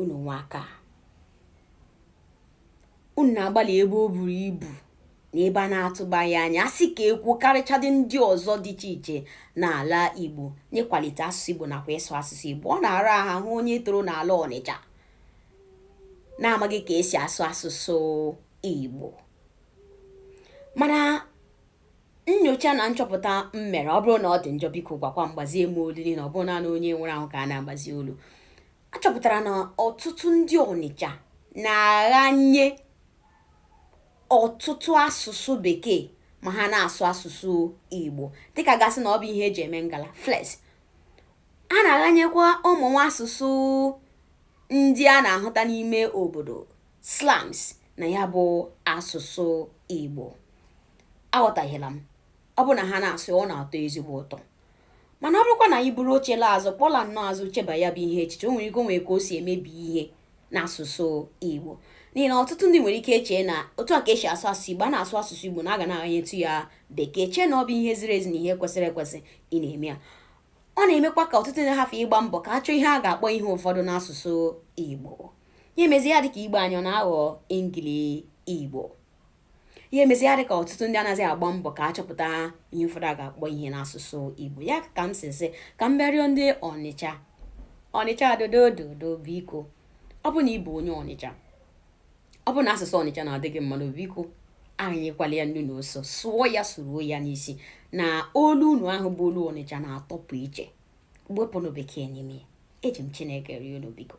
unu nwa aka unu na-agbalị ebe o buru ibu na ebe a na-atụbaghị anya a sị ka ekwu karịchadị ndị ọzọ dị iche iche n'ala igbo n'ịkwalite asụsụ igbo nakwa ịsụ asụsụ igbo ọ na-ara ahụ ahụ onye toro n'ala ọnịcha na-amaghị ka esi asụ asụsụ igbo mana Nnyocha na nchọpụta m mere ọ bụrụ na ọ dị njọ biko gwakwa m gbazie m olu n'ihi na ọ bụghị naanị onye nwụrụ anwụ ka a na-agbazi olu achọpụtara na ọtụtụ ndị Ọnịcha na-aghanye ọtụtụ asụsụ bekee ma ha na-asụ asụsụ Igbo dịka a ga-asị na ọ bụ ihe eji eme ngala flex a na-aghanyekwa ụmụ nwa asụsụ ndị a na-ahụta n'ime obodo slangs na ya bụ asụsụ Igbo aghọtahiela m ọ bụ na ha na-asụ ọ na-atọ ezigbo ụtọ mana ọ bụrụkwa na anyị buru oche laa azụ kpọla nnọọ azụ cheba ya bụ ihe echiche o nwere ike nwere ka o si emebi ihe n'asụsụ Igbo n'ihi na ọtụtụ ndị nwere ike echee na otu a ka esi asụ asụsụ Igbo a na-asụ asụsụ Igbo na a ga na-aghanyetu ya bekee chee na ọ bụ ihe ziri ezi na ihe kwesịrị ekwesị ị na-eme ya ọ na-emekwa ka ọtụtụ ndị hafụ ịgba mbọ ka a chọọ ihe a ga-akpọ ihe ụfọdụ n'asụsụ Igbo ya emezi ya dịka igbo anyị ọ na-aghọ ingili igbo ya emezi ya dịka ọtụtụ ndị anaghịzi agba mbọ ka a chọpụta ihe ụfọdụ a ga-akpọ ihe n'asụsụ igbo ya ka m si sị ka m bịa rịọ ndị ọnịcha ọnịcha dodododo biko ọ bụ na ị bụ onye ọnịcha ọ bụrụ na asụsụ ọnịcha na-adị gị mma n'obi biko aghanyekwala ya nnu na ose sụọ ya suruo ya n'isi na olu unu ahụ bụ olu ọnịcha na-atọpụ iche wepụnụ bekee n'ime eji m chineke rịọ unu biko